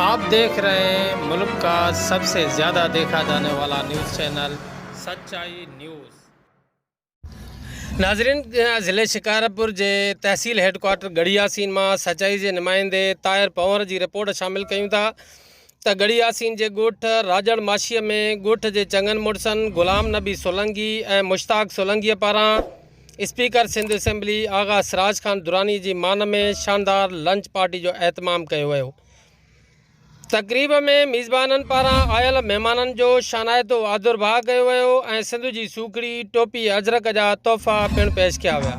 آپ ديکھ رھي ھين ملڪ کا سب سي زياده ديکھا جاني والا نيوز چينل سچائي نيوز. ناظرين ضلعي شڪارپور جي تحصيل ھيڊ ڪوارٽر ڳڙھي ياسين مان سچائي جي نمائندي طاھر پنھور جي رپورٽ شامل ڪيون ٿا ته ڳڙھي ياسين جي ڳوٺ راڄڙ ماشي ۾ ڳوٺ جي چڱن مڙسن غلام نبي سولنگي ۽ مشتاق سولنگي پاران اسپيڪر سنڌ اسيمبلي آغا سراج خان دراني جي مان ۾ شاندار لنچ پارٽي جو اهتمام ڪيو ويو. تقريب ۾ ميزبانن پاران آيل مهمانن جو شانائتو آدرڀاء ڪيو ويو ۽ سنڌ جي سوکڙي، ٽوپي، اجرڪ جا تحفا پڻ پيش ڪيا ويا.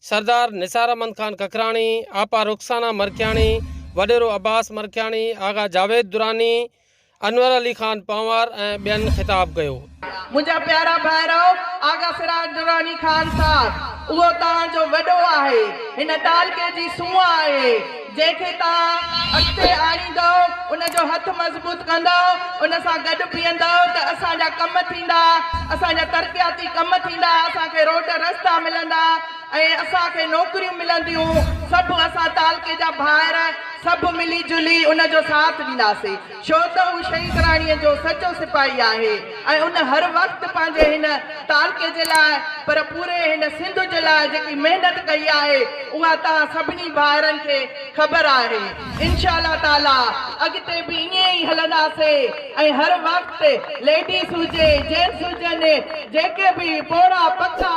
سردار نثار احمد خان ککراڻي، آپا رخسانه مرکياڻي، وڏيرو عباس مرکياڻي، آغا جاويد دراني، انور علي خان پنهوار ۽ ٻين خطاب ڪيو. منهنجا پيارا ڀائرؤ، آغا سراج دراني خان صاحب اهو توهان جو وڏو آهي، هن تعلقي جي سونهن آهي، جنهن کي توهان اڳتي آڻيندؤ، ان جو هٿ مضبوط ڪندؤ، ان سان گڏ بيهندؤ ته اسان جا ڪم ٿيندا، اسان جا ترقياتي ڪم ٿيندا، اسان کي روڊ رستا ملندا ۽ اسان کي نوڪريون ملنديون، سڀ اسان تعلقي جا ڀائر سڀ ملي جلي ان جو ساٿ ڏينداسين. ڇو ته هو شهيد راڻيء جو سچو سپاهي آهي ۽ ان هر وقت پنهنجي هن تعلقي جي لاء پر پوري هن سنڌ جي لاء جيڪي محنت ڪئي آهي اها توهان سڀني ڀائرن کي خبر آهي انشاء الله تعاليٰ اڳتي به ائين ئي هلنداسين ۽ هر وقت ليڊيز هجي جينٽس هجن جيڪي به پوڙها پکا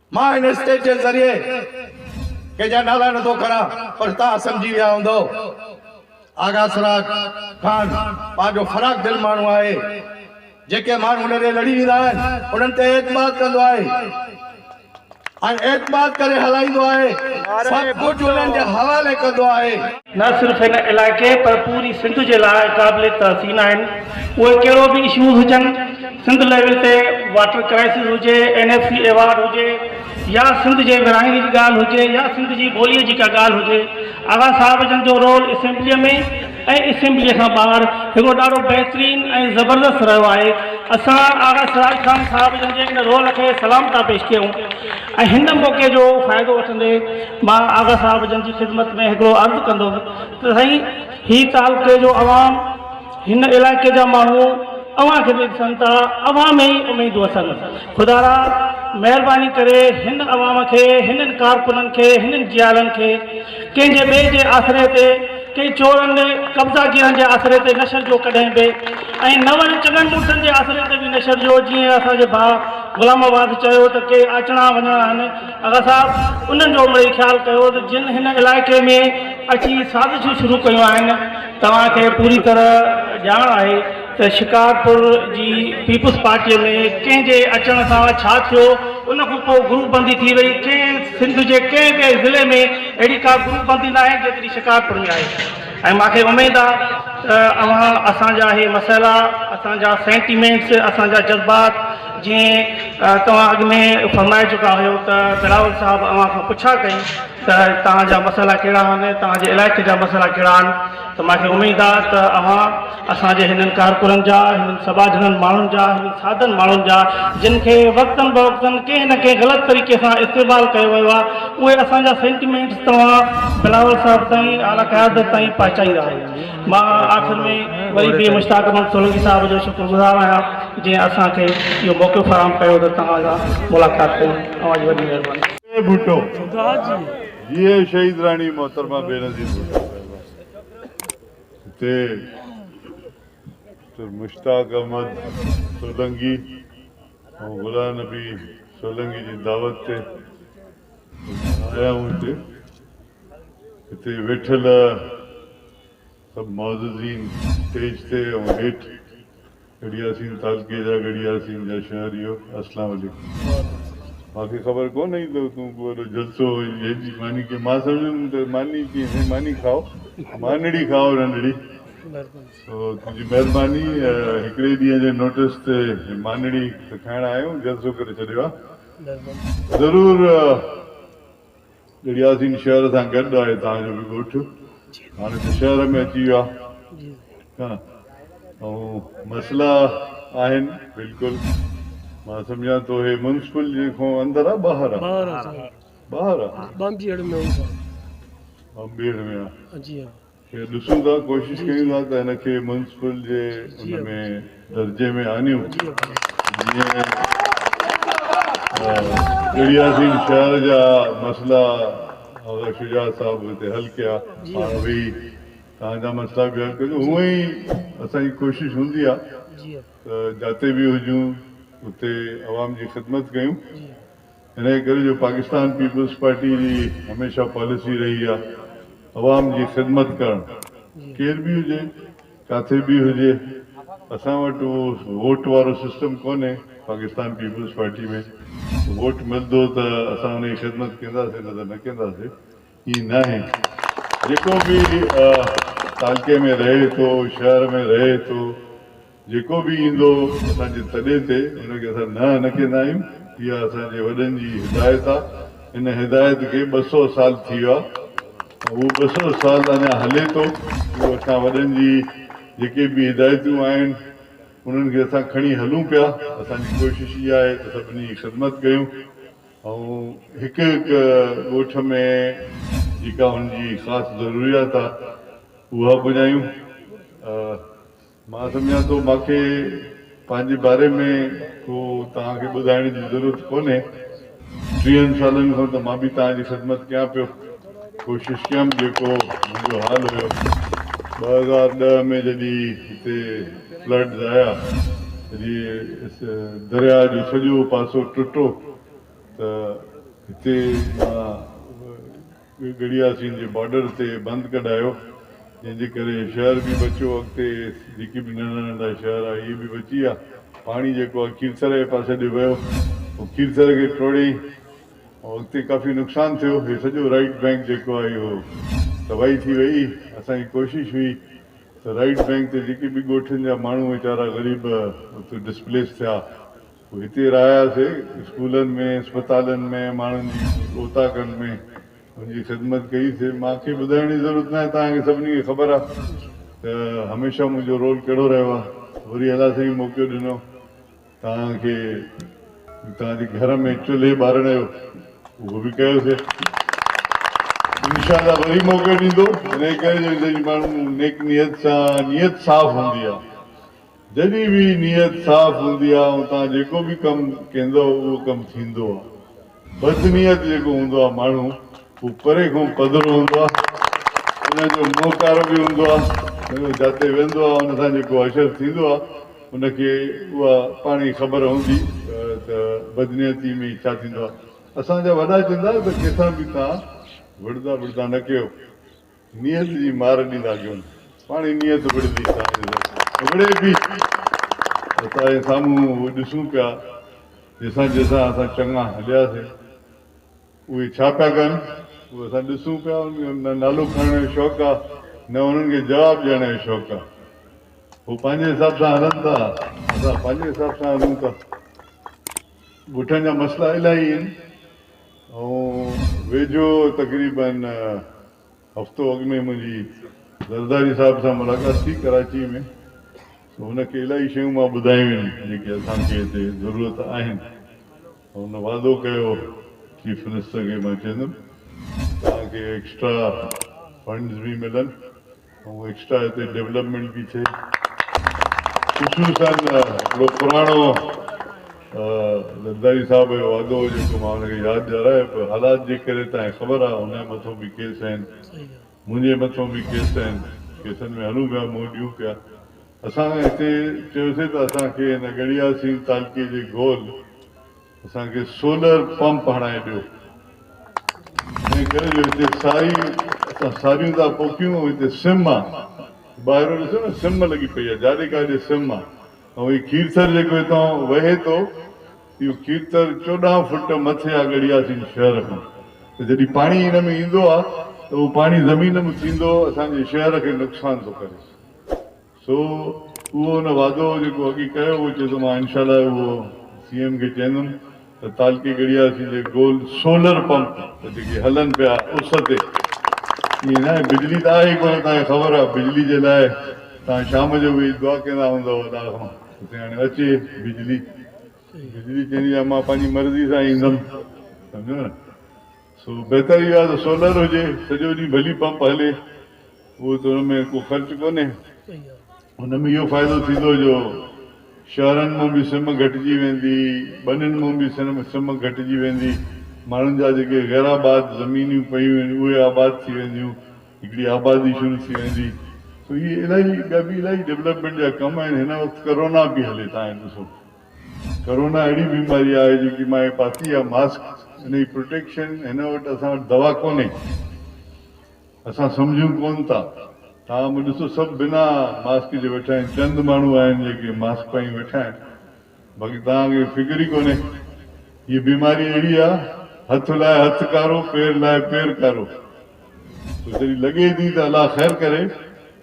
مان هن اسٽيج جي ذريعي ڪنهن جا نالا نٿو کران پر توهان سمجهي ويا هوندؤ آغا سراج خان پنهنجو فراخ دل ماڻهو آهي جيڪي ماڻهو هن ڏي لڙي ويندا آهن انهن تي اعتماد ڪندو آهي ۽ اعتماد ڪري هلائيندو آهي سڀ ڪجهه انهن جي حوالي ڪندو آهي نه صرف هن علائقي پر پوري سنڌ جي لاء قابل تحسين آهن اهي ڪهڙو به اشوز هجن سنڌ ليول تي واٽر ڪرائسز هجي اين ايف سي ايوارڊ هجي يا سنڌ جي ورهاڱي جي ڳالهه هجي يا سنڌ جي ٻولي جي ڪا ڳالهه هجي آغا صاحب جن جو رول اسيمبلي ۾ ۽ اسيمبلي کان ٻاهر هڪڙو ڏاڍو بهترين ۽ زبردست رهيو آهي اسان آغا سراج خان صاحب جن جي ان رول کي سلام ٿا پيش ڪيون ۽ هن موقعي جو فائدو وٺندي مان آغا صاحب جن جي خدمت ۾ هڪڙو عرض ڪندم ته سائين هي تعلقي جو عوام هن علائقي جا ماڻهو اوهان کي به ڏسن ٿا اوهان ۾ ئي اميدون اٿن خدارا مهرباني ڪري هن عوام کي هنن ڪارڪنن کي هنن جيالن کي ڪنهن جي ٻئي جي آسري تي، ڪنهن چورن، قبضا گيرن جي آسري تي نه شرجو ڪڏهن به ۽ نه وري چڱن مڙسن جي آسري تي به نه شرجو جيئن اسان جي ڀاء غلام آباد چيو ته ڪي آچڻا وڃڻا آهن آغا صاحب انهن جو مڙئي خيال ڪيو ته جن هن علائقي ۾ اچي سازشون شروع ڪيون آهن توهان کي پوري طرح ڄاڻ آهي ته شڪارپور جي پيپلز پارٽيء ۾ ڪنهن جي اچڻ سان ڇا ٿيو، ان کان پوء گروپ بندي ٿي وئي، ڪنهن سنڌ جي ڪنهن به ضلعي ۾ اهڙي ڪا گروپ بندي ناهي جيتري شڪارپور ۾ آهي ۽ مان کي اميد آ ته اوهان اسان جا اهي مسئلا، اسان جا سينٽيمينٽس، اسان جا جذبات جيئن توهان اڳ ۾ فرمائي چڪا هيو ته بلاول صاحب اوهان کان پڇا ڪئي ته توهان جا مسئلا ڪهڙا آهن، توهان جي علائقي جا مسئلا ڪهڙا آهن، ته مان کي اميد آ ته اوهان اسان جي هنن ڪارڪنن جا، هنن سٻاجهڙن ماڻهن جا، هنن سادن ماڻهن جا جن کي وقتن بوقتن ڪنهن نه ڪنهن غلط طريقي سان استعمال ڪيو ويو آ، اهي اسان جا سينٽيمينٽس توهان بلاول صاحب تائين اعليٰ قيادت تائين پهچائيندا آهيو. مان آخر ۾ وري به مشتاق احمد سولنگي صاحب جو شڪر گذار آهيان جنهن اسان کي اهو موقعو فراهم ڪيو ته توهان سان ملاقات ڪيون. اوهان جي وڏي مهرباني. جئي ڀٽو جئي شهيد راڻي محترمه بينظير ڀٽو صاحبه. تي ته مشتاق احمد سولنگي ۽ غلام نبي سولنگي جي دعوت تي آيا آهيون هتي هتي ويٺل سڀ معززين اسٽيج تي ۽ هيٺ گڙيا سين تازگي جا گڙيا سين جا شهر اهو اسلام عليڪم. وعليڪم السلام. مانکي خبر ڪو نهي ته تون ڪو وڏو جلسو هئين جنهن جي ماني ڪيئن مان سمجهندم ته ماني ڪيئن سائين ماني کائو مانڙي کائو ننڙي سو تنهنجي مهرباني هڪڙي ڏينهن جي نوٽس تي مانڙي ته کائڻ آيا آهيون جلسو ڪري ڇڏيو آهي ضرور ڳڙهياسين شهر سان گڏ آهي تان جو به ڳوٺ هاڻي ته شهر ۾ اچي ويو آهي ۽ مسئلا آهن بلڪل مان سمجهان ٿو هي منسپل جي کان اندر آهي ٻاهر آهي ٻاهر آهي ٻاهر آهي ٻانبيهڙ ۾ آهي ٻانبيهڙ ۾ آهي جي ها کي ڏسون ٿا ڪوشش ڪيون ٿا ته هن کي ميونسپل جي ان ۾ درجي ۾ آڻيون جيئن ڪڙياسين شهر جا مسئلا آغا شجاعت صاحب هتي حل ڪيا هاڻ ويهي تهان جا مسئلا به حل ڪجو هونء ئي اسان جي ڪوشش هوندي آ ته جاتي به هجون اتي عوام جي خدمت ڪيون. انهيء ڪري جو پاڪستان پيپلز پارٽيء جي هميشه پاليسي رهي آهي عوام جي خدمت ڪرڻ، ڪير به هجي، ڪاٿي به هجي، اسان وٽ اهو ووٽ وارو سسٽم ڪونهي، پاڪستان پيپلز پارٽيء ۾ ووٽ ملندو ته اسان ان جي خدمت ڪنداسين نه ته نه ڪنداسين، ائين ناهي، جيڪو به تعلقي ۾ رهي ٿو، شهر ۾ رهي ٿو، جيڪو به ايندو اسان جي تڏي تي ان کي اسان نه نه ڪندا آهيون اها اسان جي وڏن جي هدايت آ ان هدايت کي ٻه سؤ سال ٿي ويا ۽ اهو ٻه سؤ سال اڃا هلي ٿو اهو اسان وڏن جي جيڪي به هدايتون آهن انهن کي اسان کڻي هلون پيا اسان جي ڪوشش اها آهي ته سڀني جي خدمت ڪيون ۽ هڪ هڪ ڳوٺ ۾ جيڪا ان جي خاص ضروريات آ اها پڄايون مان سمجهان ٿو مان کي پنهنجي باري ۾ ڪو توهان کي ٻڌائڻ جي ضرورت ڪونهي. ٽيهن سالن کان ته مان به توهان جي خدمت ڪيان پيو. ڪوشش ڪيم جيڪو منهنجو حال هيو. ٻه هزار ڏهه ۾ جڏهن هتي فلڊز آيا جي درياء جو سڄو پاسو ٽٽو ته هتي مان ڳڙهيا سنڌ جي بارڊر تي بند ڪڍايو جنهن جي ڪري شهر به بچيو اڳتي جيڪي به ننڍا ننڍا شهر آ اهي به بچي ويا پاڻي جيڪو آ کيرٿر جي پاسي ڏي ويو هو کيرٿر کي ٽوڙيئي ۽ اڳتي ڪافي نقصان ٿيو هي سڄو رائيٽ بئنڪ جيڪو آ اهو تباهي ٿي وئي اسان جي ڪوشش هئي ته رائيٽ بئنڪ تي جيڪي به ڳوٺن جا ماڻهو ويچارا غريب اتي ڊسپليس ٿيا. هتي رهياسي، اسڪولن ۾، اسپتالن ۾، ماڻهن جي اوطاقن ۾ ان جي خدمت ڪئي سي. مان کي ٻڌائڻ جي ضرورت ناهي، توهان کي سڀني کي خبر آ ته هميشه منهنجو رول ڪهڙو رهيو آ. وري الله سائين موقعو ڏنو توهان کي توهان جي گهر ۾ چلهي ٻارڻ جو، اهو به ڪيو سي. انشاء الله وري موقعو ڏيندو، انهي ڪري جو هتي جي ماڻهن نيڪ نيت سان، نيت صاف هوندي آ. جڏهن به نيت صاف هوندي آ ۽ توهان جيڪو به ڪم ڪيندؤ اهو ڪم ٿيندو آ. بد نيت جيڪو هوندو آ ماڻهو هو پري کان پڌرو هوندو آ ان جو منهن ڪارو به هوندو آ ۽ هو جاتي ويندو آ ان سان جيڪو حشر ٿيندو آ ان کي اها پاڻ ئي خبر هوندي ته بد نيتي ۾ ڇا ٿيندو آ. اسان جا وڏا چوندا ته ڪنهن سان به توهان وڙهندا وڙهندا نه ڪيو. نيت جي مار ڏيندا ڪيون. پاڻهي نيت وڙهندي ساڻس ڏسي وڙهي پئي. اسان جي سامهون اهو ڏسون پيا جيسان جيسان اسان چڱا هلياسين. اهي ڇا پيا ڪن اهو اسان ڏسون پيا. انهن کي نه نالو کڻڻ جو شوق آ نه انهن کي جواب ڏيڻ جو شوق آ. هو پنهنجي حساب سان هلن ٿا اسان پنهنجي حساب سان هلون ٿا. ڳوٺن جا مسئلا الاهي آهن. آئون ويجهو تقريبن هفتو اڳ ۾ منهنجي زرداري صاحب سان ملاقات ٿي ڪراچيء ۾ سو هن کي الائي شيون مان ٻڌايون هيون جيڪي اسان کي هتي ضرورت آهن ۽ هن وعدو ڪيو چيف منسٽر کي مان چيندم توهان کي ايڪسٽرا فنڊز به ملن. ۽ ايڪسٽرا هتي ڊيولپمينٽ به ٿئي خصوصن هڪڙو پراڻو زرداري صاحب جو وعدو هو جيڪو مان هن کي ياد ڏيارائي پر حالات جي ڪري تان کي خبر آ هن جي مٿو به ڪيس آهن منهنجي مٿو به ڪيس آهن ڪيسن ۾ هلون پيا منهن ڏيون پيا اسان هتي چيوسي ته اسان کي هن ڳڙهياسين تعلقي جي گول اسان کي سولر پمپ هڻائي ڏيو ائين ڪري جو هتي ساري اسان ساريون ٿا پوکيون ۽ هتي سم آ ٻاهرو ڏسو نه سم لڳي پئي آ جاڏي ڪاڏي سم آ ۽ هي کيرٿر جيڪو هتان وهي ٿو اهو کيرٿر چوڏهن فٽ مٿي آ ڳڙهياسين شهر کان ته جڏهن پاڻي ان ۾ ايندو آ ته اهو پاڻي زمين ۾ ٿيندو اسان جي شهر کي نقصان ٿو ڪري. سو اهو ان وعدو جيڪو اڳي ڪيو هو چي ته مان انشاء الله اهو سي ايم کي چيندم ته تعلقي ڳڙهياسين جي گول سولر پمپ جيڪي هلن پيا اس تي ائين نه آهي بجلي ته آهي ئي ڪونه توهان کي خبر آهي بجلي جي لاء توهان شام جو ويهي دعا ڪيندا هوندؤ الله کان ته هاڻي اچي بجلي بجلي چيندي آهي مان پنهنجي مرضي سان ايندم سمجهو نه. سو بهتر اهو آهي ته سولر هجي، سڄو ڏينهن ڀلي پمپ هلي، اهو ته ان ۾ ڪو خرچ ڪونهي، ان ۾ اهو فائدو ٿيندو جو شهرن مان به سم گهٽجي ويندي، ٻنين مان به سم گهٽجي ويندي، ماڻهن جا جيڪي غيرآباد زمينون پيون آهن اهي آباد ٿي وينديون، هڪڙي آبادي شروع ٿي ويندي، سو اهي الاهي ٻيا به الاهي ڊولپمينٽ جا ڪم آهن، هن وقت ڪرونا به هلي تهان ڏسو. ڪرونا اهڙي بيماري آهي جيڪي مان هي پاتي آهي ماسڪ ان جي پروٽيڪشن هن وٽ اسان وٽ دوا ڪونهي اسان سمجهون ڪون ٿا توهان به ڏسو سڀ بنا ماسڪ جي ويٺا آهن چند ماڻهو آهن جيڪي ماسڪ پائي ويٺا آهن باقي توهان کي فڪر ئي ڪونهي هي بيماري اهڙي آهي هٿ لاء هٿ ڪارو پير لاء پير ڪارو سو جڏهن لڳي ٿي ته الله خير ڪري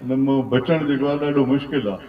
ان مان بچڻ جيڪو آهي ڏاڍو مشڪل آهي.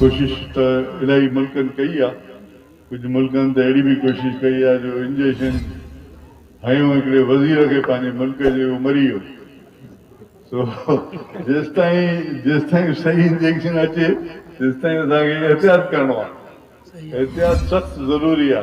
ڪوشش ته الائي ملڪن ڪئي آ، ڪجهه ملڪن ته اهڙي به ڪوشش ڪئي آ جو انجيشن هنيو هڪڙي وزير کي پنهنجي ملڪ جي اهو مري ويو سو جيستائين جيستائين صحيح انجيشن اچي تيستائين اسان کي احتياط ڪرڻو آ احتياط سخت ضروري آ.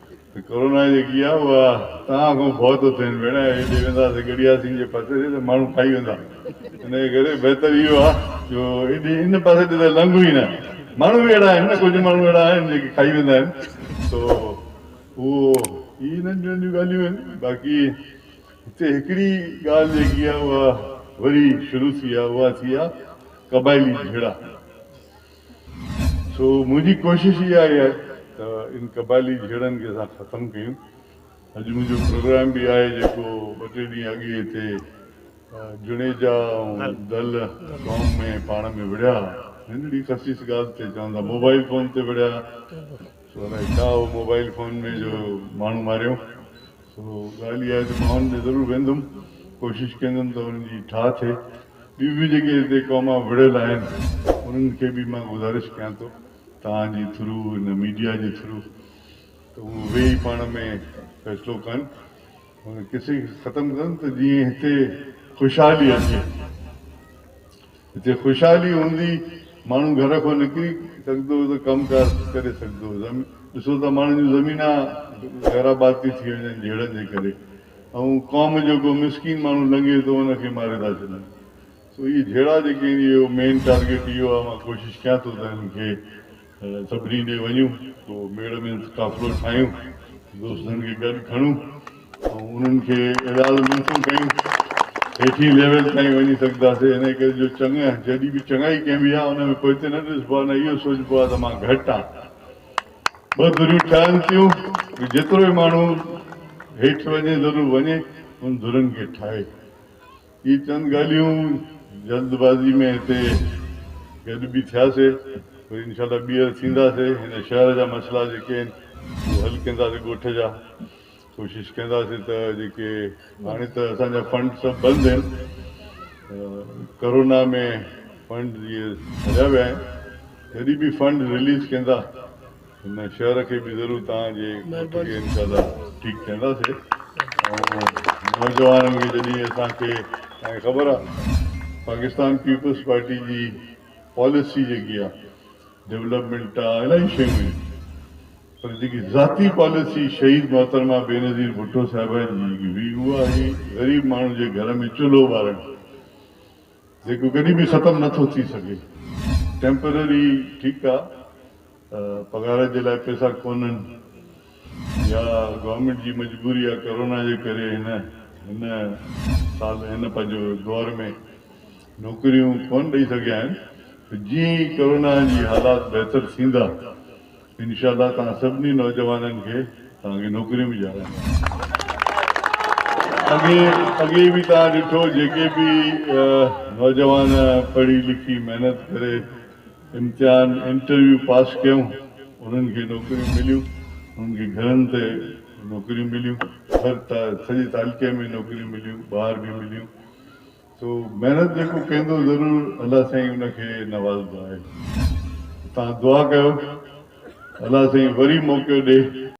ته ڪورونا جيڪي آهي اها توهان کان ڀؤ ٿو ٿين ڀيڻ ۽ هيڏي وينداسين گڙياسين جي پاسي ڏي ته ماڻهو کائي ويندا انهيء ڪري بهتر اهو آهي جو هيڏي ان پاسي ڏي ته لنگهون ئي نه ماڻهو به اهڙا آهن نه ڪجهه ماڻهو اهڙا آهن جيڪي کائي ويندا آهن سو اهو هي انهن ٻين جون ڳالهيون آهن باقي هتي هڪڙي ڳالهه جيڪي آهي اها وري شروع ٿي آهي اها ٿي آهي قبائلي جهيڙا سو منهنجي ڪوشش اها ئي آهي ته ان قبائلي جهيڙن کي اسان ختم ڪيون. اڄ منهنجو پروگرام به آهي جيڪو ٻه ٽي ڏينهن اڳ ئي هتي جوڻيجا ۽ دل قوم ۾ پاڻ ۾ وڙهيا ها. ننڍڙي خسيس ڳالهه تي چون ٿا موبائل فون تي وڙهيا ها. سو الائي ڇا هو موبائل فون ۾ جو ماڻهو ماريون. سو ڳالهه اها آهي ته ماڻهن ڏي ضرور ويندم، ڪوشش ڪندم ته انهن جي ٺاهه ٿئي. ٻيون به جيڪي هتي قومان وڙهيل آهن انهن کي به مان گذارش ڪيان ٿو توهان جي ٿرو هن ميڊيا جي ٿرو ته هو ويهي پاڻ ۾ فيصلو ڪن هن قصي کي ختم ڪن ته جيئن هتي خوشحالي اچي. هتي خوشحالي هوندي ماڻهو گهر کان نڪري سگهندو ته ڪم ڪار ڪري سگهندو. ڏسو ته ماڻهن جون زمينا غير آباد ٿي ٿي وڃن جهيڙن جي ڪري ۽ قوم جو ڪو مسڪين ماڻهو لنگهي ٿو ان کي ماري ٿا ڇڏن. سو اهي جهيڙا جيڪي آهن اهو مين ٽارگيٽ اهو آهي مان ڪوشش ڪيان ٿو ته هنن کي سڀني ڏي وڃون، ڪو ميڙ ۾ قافلو ٺاهيون، دوستن کي گڏ کڻون ۽ انهن کي ايڏاهل منٿون ڪيون، هيٺين ليول تائين وڃي سگهنداسين. انهيء ڪري جو چڱ جڏهن به چڱائي ڪئبي آهي، ان ۾ پوئتي نه ڏسبو آهي، نه اهو سوچبو آهي ته مان گهٽ آهيان. ٻه ڌريون ٺهن ٿيون، جيترو به ماڻهو هيٺ وڃي ضرور وڃي، انهن ڌرين کي ٺاهي. هي چند ڳالهيون جلد بازي ۾ هتي گڏ به ٿياسي وري انشاء الله ٻيهر ٿينداسي هن شهر جا مسئلا جيڪي آهن اهي حل ڪنداسي ڳوٺ جا ڪوشش ڪنداسي ته جيڪي هاڻي ته اسان جا فنڊ سڀ بند آهن ڪرونا ۾ فنڊ جي هليا ويا آهن جڏهن به فنڊ رليز ڪندا هن شهر کي به ضرور توهان جي مهرباني ڪري انشاء الله ٺيڪ ٿينداسي ۽ نوجوانن کي جڏهن اسان کي توهان کي خبر آ پاڪستان پيپلز پارٽي جي پاليسي جيڪي آ ڊولپمينٽ آ الائي شيون آهن پر جيڪي ذاتي پاليسي شهيد محترمه بينظير ڀٽو صاحبه جي جيڪي هئي اها هئي غريب ماڻهو جي گهر ۾ چلهو ٻارڻ جيڪو ڪڏهن به ختم نه ٿو ٿي سگهي ٽيمپرري ٺيڪ آ پگهار جي لاء پئسا ڪونهن يا گورنمينٽ جي مجبوري آ ڪرونا جي ڪري هن هن سال هن پنهنجو دور ۾ نوڪريون ڪون ڏئي سگهيا آهن ته جيئن ئي ڪرونا جي حالات بهتر ٿيندا انشاء الله توهان سڀني نوجوانن کي توهان کي نوڪريون به ڏيارائينداسين اڳي اڳي به توهان ڏٺو جيڪي به نوجوان پڙهي لکي محنت ڪري امتحان، انٽرويو، پاس ڪيائون، انهن کي نوڪريون مليون، انهن کي گهرن تي نوڪريون مليون، هر سڄي تعلقي ۾ نوڪريون مليون، ٻاهر به مليون، سو محنت جيڪو ڪندو ضرور الله سائين ان کي نوازندو آهي، ته توهان دعا ڪيو الله سائين وري موقعو ڏي.